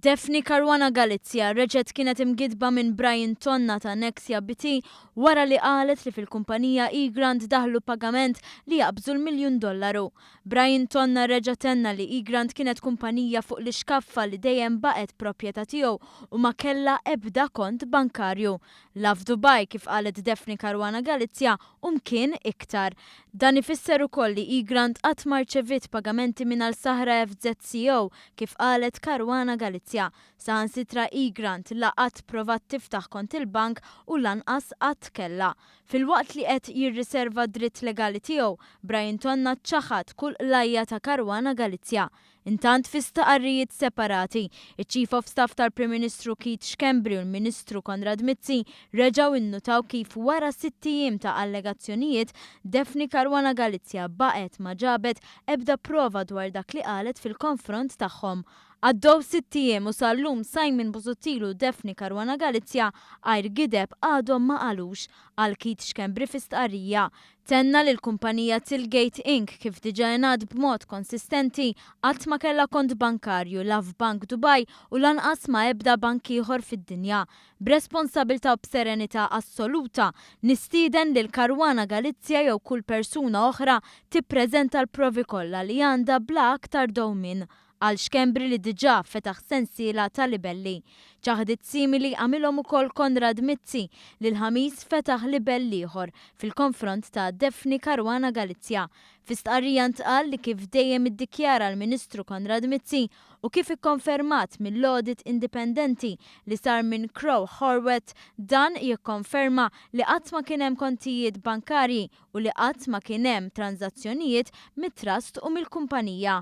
Daphne Caruana Galizia reġgħet kienet imgiddba minn Brian Tonna ta' Nexia BT wara li qalet li fil-kumpanija eGrant daħlu pagament li jaqbżu l-miljun dollaru. Brian Tonna reġa' tenna li eGrant kienet kumpanija fuq l-ixkaffa li dejjem baqgħet proprjetà tiegħu u ma kellha ebda kont bankarju. La f'Dubai, kif qalet Daphne Caruana Galizia, u mkien iktar. Dan ifisser ukoll li Egrant qatt ma rċeviet pagamenti minn Al Sahra FZCO, kif qalet Caruana Galizia. Saħansitra Egrant la qatt provat tiftaħ kont il-bank u lanqas qatt kellha. Filwaqt li qed jirriserva d-dritt legali tiegħu, Brian Tonna ċaħad kull qlajja ta' Caruana Galizia. Intant, fi stqarrijiet separati, iċ-Chief of Staff tal-Prim Ministru Keith Schembri u l-Ministru Konrad Mizzi reġgħu innutaw kif wara sitt ijiem ta' allegazzjonijiet, Daphne Caruana Galizia baqgħet ma ġabet ebda prova dwar dak li qalet fil-konfront tagħhom. Għaddew sitt ijiem u sal-lum Simon Busuttil u Daphne Caruana Galizia għajr gideb għadhom ma qalux, qal Keith Schembri fi stqarrija. Tenna li l-kumpanija Tilgate Inc. kif diġà ingħad b'mod konsistenti, qatt ma kellha kont bankarju la f'bank Dubai u lanqas ma' ebda bank ieħor fid-dinja. B'responsabilità u b'serenità assoluta, nistieden lil Caruana Galizia jew kull persuna oħra tippreżenta l-provi kollha li għandha bla aktar dewmien. għal Xkembri li diġà fetaħ sensiela ta' libelli. Ċaħdiet simili għamilhom ukoll Konrad Mizzi li l-Ħamis fetaħ libell ieħor fil-konfront ta' Daphne Caruana Galizia. Fi stqarrija ntqal li kif dejjem iddikjara l-Ministru Konrad Mizzi u kif ikkonfermat mill-audit indipendenti li sar minn Crowe Horwath dan jikkonferma li qatt ma kien hemm kontijiet bankarji u li qatt ma kien hemm tranżazzjonijiet mit-Trust u mill-kumpanija.